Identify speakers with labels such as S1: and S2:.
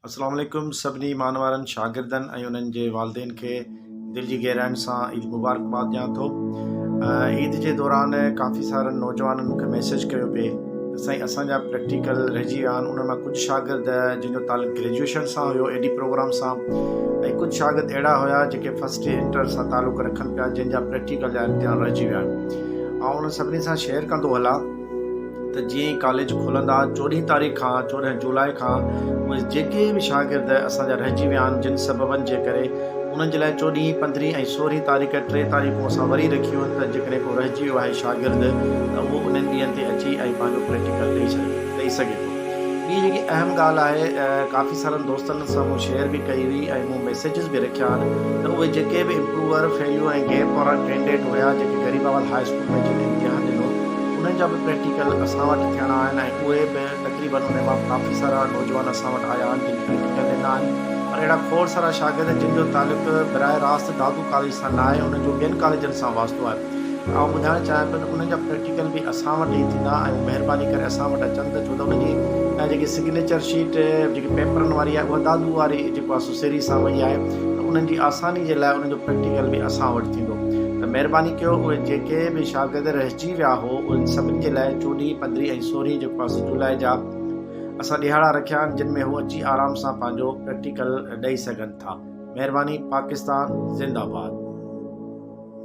S1: اسلام عليڪم سڀني ايمان وارن شاگردن ۽ انهن جي والدين کي دل جي گهراين سان عيد مبارڪباد ڏيان ٿو عيد جي دوران ڪافي سارن نوجوانن مونکي ميسيج ڪيو پئي ته سائين اسان جا پريڪٽيڪل رهجي ويا آهن انهن مان ڪجهه شاگرد جن جو تعلق گريجويشن سان هيو ايڊي پروگرام سان ۽ ڪجهه شاگرد اهڙا هيا جيڪي فرسٽ ٽي انٽر سان تعلق رکن پيا جن جا پريڪٽيڪل جا امتحان رهجي ويا آهن آئون انهن سڀني سان شيئر ڪندو هلان ته جيئن ئي ڪاليج کلندا چوڏهين تاريخ کان چوڏهن جولاء کان اهي جيڪي به شاگرد اسان جا رهجي ويا آهن جن سببن جي ڪري انهن جي لاء چوڏهين پندرهين ۽ سورهين تاريخ ٽي تاريخون اسان وري رکيون آهن ته جيڪڏهن ڪو رهجي ويو آهي شاگرد ته اهو انهن ڏينهن تي اچي ۽ پنهنجو پريڪٽيڪل ڏئي سگهي ٿو. ٻي جيڪي اهم ڳالهه آهي ڪافي سارن دوستن سان مون شيئر به ڪئي هئي ۽ مون ميسيجز به رکيا آهن ته اهي جيڪي به امپروور، فيليو ۽ گيپ وارا ڪينڊيڊيٽ هيا جيڪي غريباوال هاء اسڪول ۾ جن امتحان ڏنو انهن جا به پريڪٽيڪل اسان وٽ ٿيڻا آهن ۽ اهي به تقريبن انهن مان ڪافي سارا نوجوان اسان وٽ آيا آهن جن پريڪٽيڪل ڏنا آهن پر اهڙا کوڙ سارا شاگرد جن جو تعلق براه راست دادو ڪاليج سان ناهي انهن جو ٻين ڪاليجن سان واسطو آهي پر آئون ٻڌائڻ چاهيان پيو ته انهن جا پريڪٽيڪل به اسان وٽ ئي ٿيندا ۽ مهرباني ڪري اسان وٽ اچن ته ڇو ته ان جي جيڪي سگنيچر شيٽ جيڪي پيپرن واري آهي اها دادو واري جيڪو آهي سو سري سان وئي آهي ته انهن جي آساني جي لاء انهن جو پريڪٽيڪل به اسان وٽ ٿيندو ته مهرباني ڪيو اهي جيڪي به شاگرد رهجي ويا هو انهن سڀني جي لاء چوڏهين پندرهين ۽ سورهين جيڪو آهي سو جولاء جا اسان ڏيهاڙا رکيا آهن جن ۾ هو اچي آرام سان پنهنجو پريڪٽيڪل ڏئي سگهن ٿا مهرباني پاڪستان زنده باد.